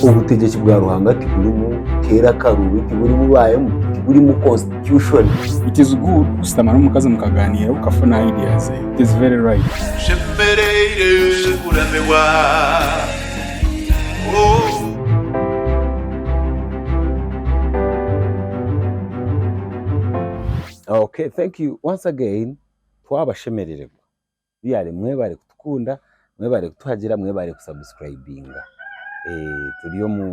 Obutegyeki bwa Ruhanga tiburimu keera akaruubi, tiburimu baayemu, tiburimu constitution. It is good kushutama n'omukazi mukagaaniira okafuna idea ze. It is very right. Nshemereire kuramirwa oh. Okay thank you once again twabashemerererwa. Byaare mwebare kutukunda, mwebare kutuhagira, mwebare ku subscribinga turi omu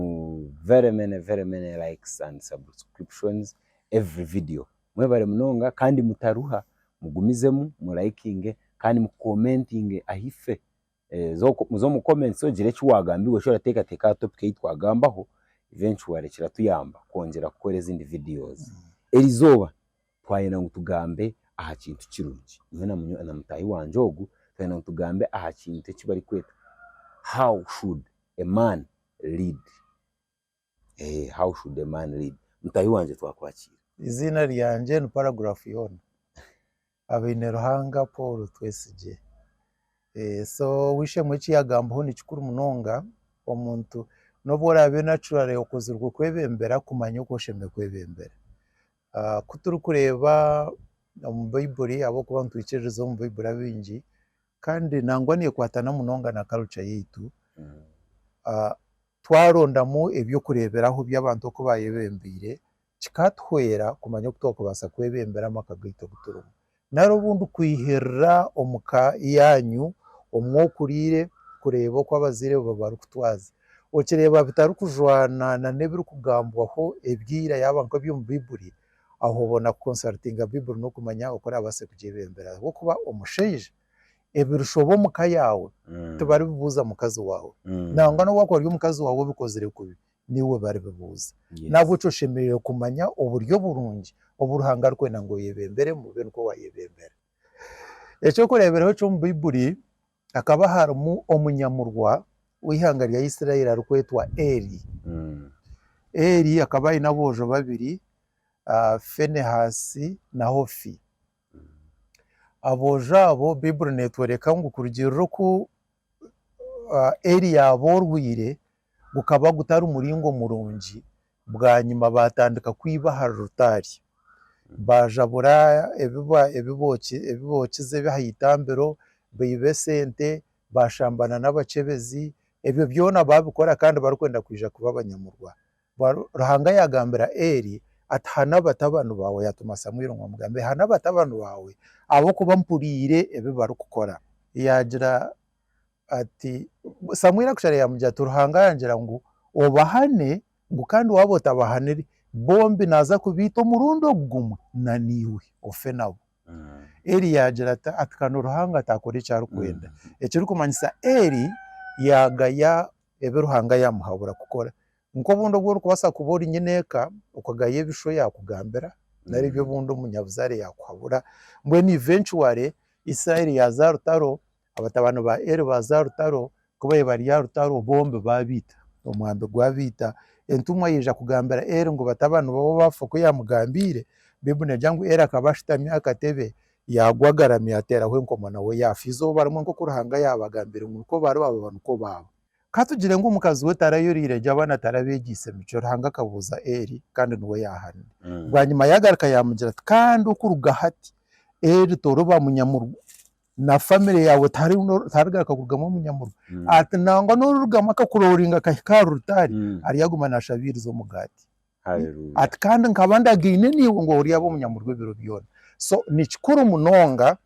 very many very many likes and subscriptions every video mwebare munonga kandi mutaruha mugumizemu mu likinge kandi mu commentinge ahife oze omu comments ogire eki wagambiirwe eki orateekateeka aha topic ei twagambaho eventually kiratuyamba kwongyera kukora ezindi videos erizooba. twayenda ngu tugambe aha kintu kirungi, nyowe na munywani na mutahi wangye ogu twayenda ngu tugambe aha kintu eki bari kweta how should a man lead, eeh how should a man lead, mutahi wangye twakwakiire. Eiziina ryangye ni paragraph yoona Habaine Ruhanga Paul Twesigye, so ow'eishe-emwe eki yagambaho ni kikuru munonga, omuntu n'obu oraabe naturally okozirwe kwebembera kumanya oku oshemereire kwebembera, Ku turikureeba omu Baibuli ahabw'okuba nitwikiririza omu Baibuli abaingi kandi nangwa neekwatana munonga na karuca yaitu, twarondamu eby'okureeberaho by'abantu oku baayebembeire, kikatuhwera kumanya oku twakubaasa kwebembera amaka gaitu agu turimu. Nari obu ndikwihiirira omu ka yaanyu omu okuriire kureeba oku abazaire bo barikutwaza. Okireeba bitarikujwana na n'ebirikugambwaho ebyo ira yaaba nk'eby'omu Baibuli, aho obona kukonsarutinga Baibuli n'okumanya oku oraabaase kugyebembera. Ahabw'okuba omushaija ebirushoba omu ka yaawe tibaribibuuza mukazi waawe, nangwa n'obu akuba ari omukazi waawe obikozire kubi, niiwe baribibuuza. N'ahabw'ekyo oshemereire kumanya oburyo oburungi obu Ruhanga arikwenda ngu oyebemberemu obe nikwo waayebembera. Eky'okureeberaho eky'omu Baibuli, Hakaba harimu omunyamurwa w'eihanga rya Isiraeli arikwetwa Eli. Eli akaba aine aboojo babiri, Fenehaasi na Hofi. Aboojo abo, Baiburi neetworeka ngu kurugiirira oku Eri yaaba orwaire gukaba gutari muringo murungi, bwanyima baatandika kwiba ahari rutaari. Baajabura ebi bookize eby'aha itambiro, baiba esente, baashambana n'abakyebezi, ebyo byona baabikora kandi barikwenda kwija kuba abanyamurwa. Bwaba Ruhanga yaagambira Eeri ati, Hana batabani baawe, yaatuma Samueli ngu amugambire, Hana batabani baawe, ahabw'okuba mpuriire ebi barikukora. Yaagira ati, Samueli akasharayo yaamugira ati, Ruhanga yangira ngu obahane, ngu kandi waaba otabahanire, bombi naaza kubaita omurundi ogu gumwe na naiwe, ofe nabo. Eeri yaagira ati, Atikane Ruhanga ataakora eki arikwenda. Ekirikumanyisa Eeri yaagaya ebi Ruhanga yaamuhabura kukora. Nk'obundi obu orikubaasa kuba ori nyine eka, okagaya ebishu yaakugambira, nari ebi obundi omunyabuzaare yaakuhabura, mbwenu eventually Israeli yaaza aha rutaro, abatabaani ba Eli baaza aha rutaro, ku baabaire bari aha rutaro bombi baabaita, omwambi gwabaita. Entumwa yaija kugambira Eli ngu batabaani baawe baafa oku yaamugambiire, Baibuli neegira ngu Eli akaba ashutami aha katebe, Yaagwa agaramye yaateeraho enkomo nawe yaafa. Eizooba rimwe nk'oku Ruhanga yaabagambire ngu nikwo baari baaba nikwo baaba. Ka tugire ngu omukazi we tarayoriire gye abaana tarabeegyeise emicwe. Ruhanga akabuuza Eli kandi niwe yaahanire. Bwanyima yaagaruka yaamugira ati, Kandi okuruga hati Eli toriba munyamurwa, na famire yaawe tiharigaruka kurugamu omunyamurwa. Ati, Nangwa n'orirugamu akakurooringa akahika aha rutaari, aryaguma naashabiiriza omugaati. Haleluya. Ati, Kandi nkaba ndagaine naiwe ngu oryabe omunyamurwa ebiro byona. So, ni kikuru munonga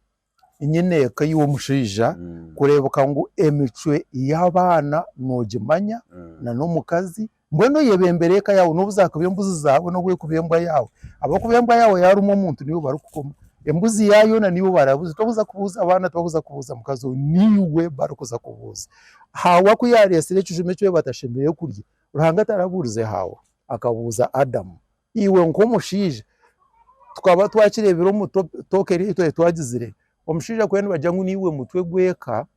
nyine eka iwe omushaija Mm, kureebeka ngu emicwe y'abaana noogimanya mm. na n'omukazi, mbwenu oyebembere eka yaawe n'obu zaakuba embuzi zaawe n'obu ekuba embwa yaawe. Ahabw'okuba embwa yaawe yaarumu omuntu niiwe barikukoma, embuzi yaawe yoona niiwe barabuza. Tibakuza kubuuza baana, tibakuza kubuuza mukazi we, niiwe barikuza kubuuza. Haawa ku yaareetsire ekijuma eki batashemereire kurya, Ruhanga tarabuurize Haawa, akabuuza Adamu, Iwe nk'omushaija, tukaba twakireebire omu tooke eri ei twari twagizire, omushaija kweena nibagira ngu niiwe mutwe gw'eka,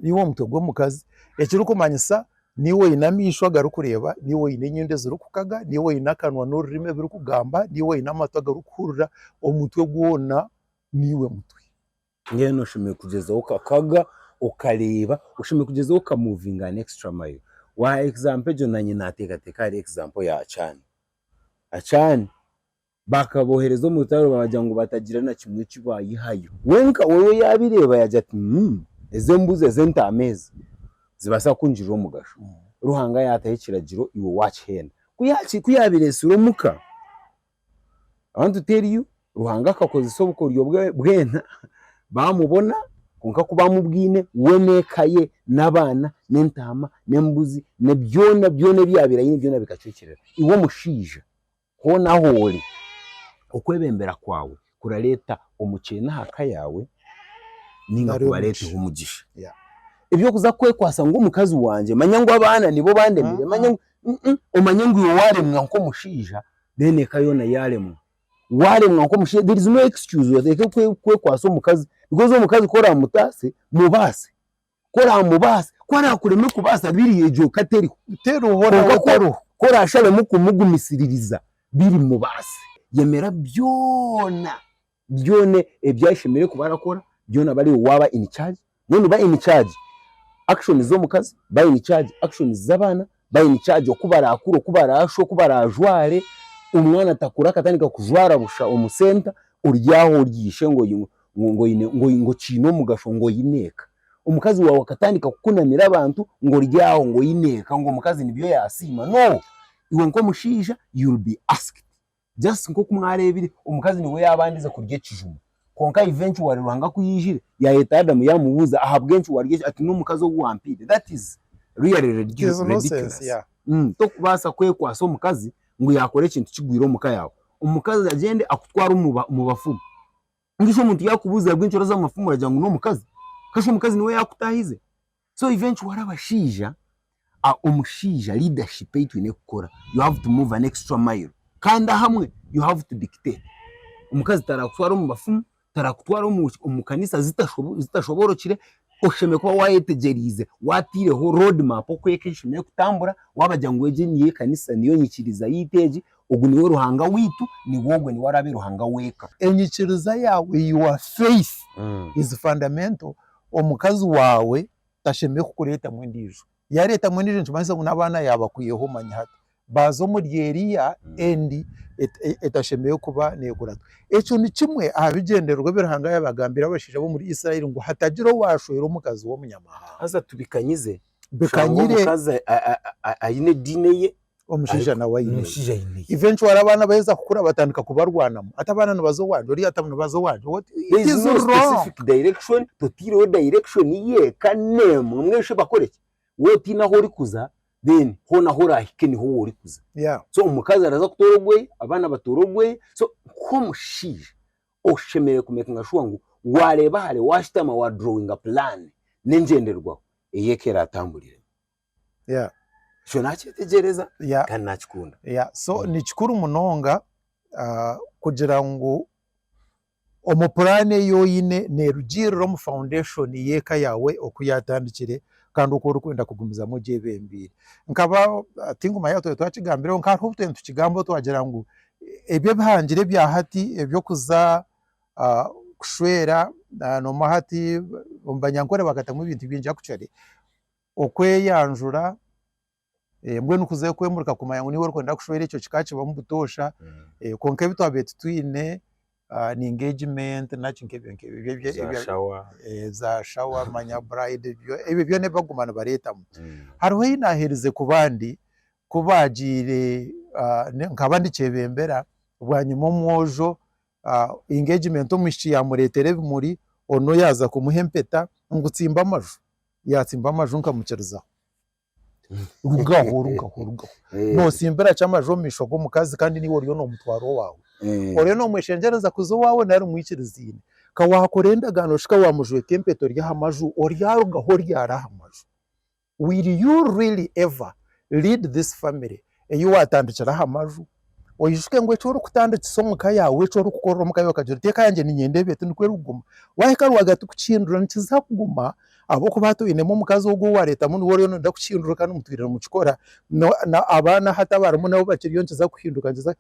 niiwe mutwe gw'omukazi, ekirikumanyisa niiwe oine amaisho agarikureeba, niiwe oine enyindo ezirikukaga, niiwe oine akanwa n'orurimi ebirikugamba, niiwe oine amatu agarikuhurira, omutwe gwona niiwe mutwe. Mbwenu oshemereire kugyezaho okakaga okareeba, oshemereire kugyezaho oka movinga an extra mile. Waaha example egyo naanye naateekateeka ahari example ya Can. Can baakaboohereza omu rutaro baagira ngu batagira na kimwe eki baayihayo. Wenka weeye yaabireeba yaagira ati umm ezi embuzi ezi entaama ezi zibaasa kungirira omugasho. Ruhanga yaataho ekiragiro iwe waakihenda. Ku yaabireetsire omuka. Abantu teriyo, Ruhanga akakozesa obukoryo bwe bwena baamubona, kwonka ku baamubwine we n'eka ye n'abaana n'entaama n'embuzi na byona byona ebi yaabaire aine byona bikacwekyerera. Iwe omushaija, hoona ahu ori, okwebembera kwawe kurareta omukyene aha ka yaawe ninga Nari kubareteho omugisha. omugisha Yeah. ebyokuza kwekwasa ngu omukazi wangye manya ngu abaana nibo bandemire Ah, manya ngu Mm, mm. omanye ngu iwe waremwa nk'omushaija then eka yoona yaremwa waremwa nk'omushaija there is no excuse oteeke kwe- kwekwasa omukazi because omukazi ku oramutaase mubaase. ku oraamubaasa, ku araakureme kubaasa biri egyo ka teriho. Kwonka ku oraashabemu kumugumisiririza biri mubaase. Yemera byona byona ebi ashemereire kuba arakora, byona aba ariwe waaba in charge. Mbwenu ba in charge actions z'omukazi, ba in charge actions z'abaana, bari in charge oku barakure, oku barashwe, oku barajware, omwana atakure akatandika kujwara busha omu center, ori aho ori ishe ngu oine ngu oine ngu oine ngu kiine omugasho ngu oine eka. Omukazi waawe akatandika kukunamira abantu ngu ori aho ngu oine eka ngu omukazi nibyo yasiima. No! Iwe nk'omushaija you will be asked. Just nk'oku mwareebire, omukazi niwe yaabandize kurya ekijuma. Kwonka eventually Ruhanga ku yaijire, yaayeta Adamu yaamubuuza, ahabw'enki warya ekijuma? Ati, N'omukazi ou wampaire. That is really ridiculous. Torikubaasa kwekwatsa omukazi ngu yaakora ekintu kigwire omu ka yaawe. Omukazi agyende akutware omu bafumu. Mbwenu shi omuntu yakubuuza ahabwa enchwera z'amafumu oragira ngu n'omukazi? Ka shi omukazi niwe yakutaahize? So eventually abashaija, omushaija leadership ei twine kukora, you have to move an extra mile. Kandi ahamwe you have to dictate. Omukazi tarakutwara omu bafumu, tarakutwara omu omu kanisa zitasho zitashoboorokire, oshemereire kuba waayetegyereize, waataireho road map oku eka eshemereire kutambura, waabagira ngu egi niyo ekanisa niyo nyikiriza yaitu egi, Ogu niwe Ruhanga waitu, niwe ogwo niwe araabe Ruhanga w'eka. Enyikiriza yaawe, your faith is fundamental, omukazi waawe tashemereire kukureetamu endiijo, yaareetamu endiijo nikimanyisa ngu n'abaana yaabakwihaho omanya hati baaza omuri eriya endi etashemereire kuba neekuratwa. Ekyo nikimwe aha bigyendererwa ebi Ruhanga yaabagambira abashaija b'omuri Israeli ngu hatagira owaashwera omukazi w'omunyamahanga. Haza tubikanyize, oshanga omukazi aine ediini eye, omushaija nawe aine ye. Omushaija aine ye. Eventually abaana baheza kukura batandika kubarwanamu. Hati abaana nibaza owangye, oriya ati nibaza owangye. What- it There is is no wrong. specific direction, toteireho direction yeka n'emwe mweshe bakore ki? Wowe otaine ahu orikuza then hoona ahu orahike niho wowe orikuza. Yeah. So omukazi araza kutoora ogweye, abaana batoore ogweye. So nk'omushaija oshemereire ku makinga shuwa ngu waareeba hare, waashutama wa drawinga puraani n'engyenderwaho ey'eka eraatamburiremu. Yeah. ekyo nakyetegyereza Yeah. kandi nakikunda Yeah, so Mm. ni kikuru munonga ah, kugira ngu omu puraani ei oine neerugiirira omu foundation y'eka yaawe oku yaatandikire kandi oku orikwenda kugumizamu gye ebembeire. Nkaba ah, tinguma yaaba twaba twakigambireho nka hariho obu twena tukigambaho twagira ngu ebi ebihangire ebya hati eby'okuza ah, kushwera ah, noomwe hati omu banyankore bakatamu ebintu bingi actually Okweyanjura, mbwenu kuze kwemurika kumanya ngu niiwe orikwenda kushwera ekyo kika kibamu butoosha kwonka ebi twabaire titwine engagement naki nk'ebyo nk'ebyo za shawa manya bride ebyo byona ebi barikuguma nibareetamu hariho ei naaherize ku bandi ku baagiire nkaba ndikyebembera bwanyima omwojo engagement omwishiki yaamureetera ebimuri onu yaaza kumuha empeta ngu tsimba amaju. Yaatsimba amaju nkamukiriza. Rugaho, rugaho, rugaho. Eh, Nootsimbira ki amaju omu maisho g'omukazi kandi niiwe oriyo noomutwara owaawe? eh, Oriyo noomweshengyereza kuza owaawe nari mwikirizaine? Ka waakora endagaano shi ka waamujweka empeta ori aha maju, oryarugaho oryare aha maju? Will you really ever lead this family Ei waatandikira aha maju, oijuke ngu eki orikutandikisa omu ka yaawe, eki orikukorera omu ka yaawe, okagira oti eka yangye niinyenda ebi, ati nikwo erikuguma. Waahika rwagati kukihindura nikiza kuguma ahabw'okuba hati oinemu omukazi ogwo ou waareetamu niwe oriyo nooyenda kukihindura kandi mutwire nimukikora, na abaana hati abarimu nabo bakiriyo nikiza kuhinduka, nikiza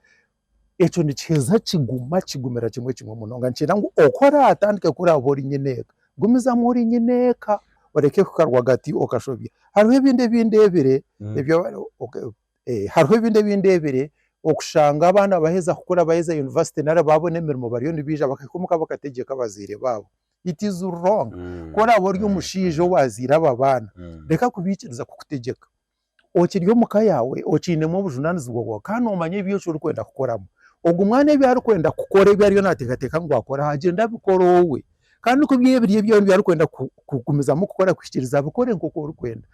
Ekyo nikiheza kiguma kigumira kimwe kimwe munonga nikigira ngu oku oratandike ku oraabe ori nyine eka, gumizamu ori nyine eka oreke kuhika rwagati okashobya. Hariho ebindi ebi ndeebire, hariho ebindi ebi ndeebire okushanga abaana baaheza kukura baaheza yunivasite nari baabona emirimo bariyo nibaija bakahika omuka bakategyeka abazaire baabo. It is wrong, ku oraabe ori omushaija owaazaire abo abaana, reka kubaikiriza kukutegyeka. okiri omu ka yaawe okiinemu obujunaanizibwa bwaawe kandi noomanya ebi orikwenda kukoramu. Ogwo mwana ebi arikwenda kukora ebi ariyo naateekateeka ngu akore agyende abikore owe kandi ku biri ebi arikwenda kugumizamu kukora kuhikiiriza abikore nk'oku orikwenda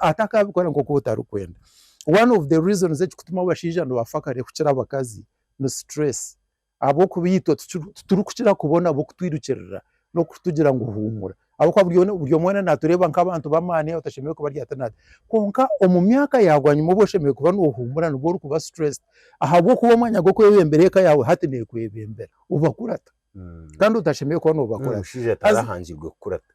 atakaabikora nk'oku otarikwenda. One of the reasons ekikutuma abashaija nibafa kare kukira abakazi ni sitireesi. Ahabw'okuba itwe titurikukira kubona bukutwirukirira n'okutugira ngu huumura. Ahabw'okuba buri omwe weena naatureeba nk'abantu b'amaani abatashemereire kuba ryata na ryata. Kwonka omu myaka ya bwanyima obu oshemereire kuba noohuumura nibwo orikuba stressed ahabw'okuba omwanya gw'okwebembera eka yaawe hati neekwebembera. Obakurata kandi otashemereire kuba noobakurata. Omushaija atarahangirwe kukurata.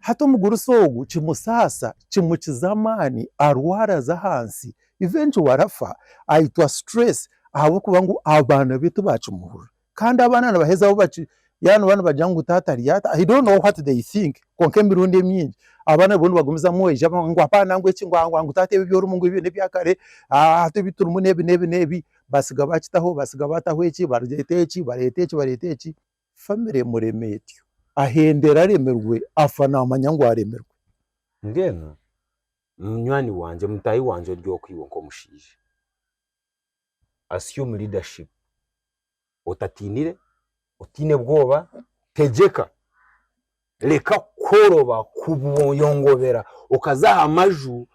Hati omugurusi ogu kimusaasa, kimukiza amaani, arwara aza ahansi, eventually arafa ayitwa stress ahabw'okuba ngu abaana be tibakimuhurira kandi abaana nibaheza bo baki yaaba nooba nibagira ngu taata ari ata he don't know what they think kwonka emirundi emingi abaana nibwo nibagumizamu oija ngu apaana ngu eki ngu taata ebi ebi orimu ngu ebyo n'ebya kare hati ebi turimu n'ebi n'ebi n'ebi batsiga bakitaho batsiga bataho eki bareeta eki bareeta eki bareeta eki family emurema etyo ahendere aremirwe afa naamanya ngu aremirwe. Mbwenu munywani wangye, mutaahi wangye ori oku iwe nk'omushaija. Assume leadership, otatiinire, otaine bwoba, tegyeka, reka kukoroba, kuyongobera, okaza aha maju,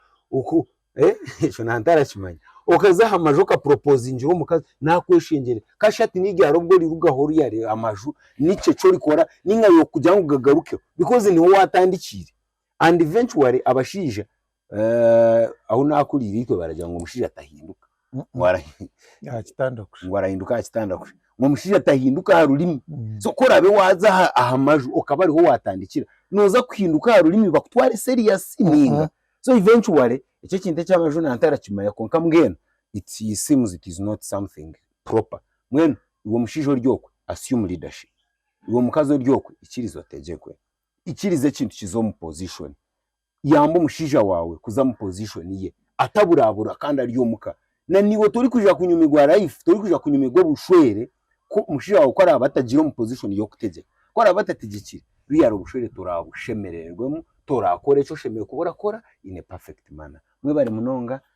ekyo nanye ntarakimanya, okaza aha maju okapuropozingira omukazi naakweshengyerera, kasha hati niryari obu orirugaho oryareeba amaju, niki eki orikora, nainga yaaba orikugira ngu gagarukeho, because niho waatandikiire, and eventually abashaija eh, ahu nakuriire itwe baragira ngu omushaija atahinduka Mm, ngu ara- aha kitanda kusha ngu arahinduka aha kitanda kusha ngu omushaija atahinduka aha rurimi Mm. so ku orabe waaza aha- aha maju okaba ariho waatandikira nooza kuhinduka aha rurimi bakutware serious ninga so eventually ekyo ekintu eky'amaju nantarakimanya kwonka mbwenu it seems it is not something proper mbwenu iwe omushaija ori okwe assume leadership iwe omukazi ori okwe ikiriza otegyekwe ikiriza ekintu kiza omu position, yamba omushaija waawe kuza omu position ye ataburabura kandi ari omuka, na naiwe torikuza kunyumirwa life, torikuza kunyumirwa obushwere ku omushaija waawe ku araabe atagire omu position y'okutegyeka, ku araabe atategyekire real obushwere toraabushemerererwemu, toraakora eki oshemereire kuba orakora in a perfect manner. Mwebare munonga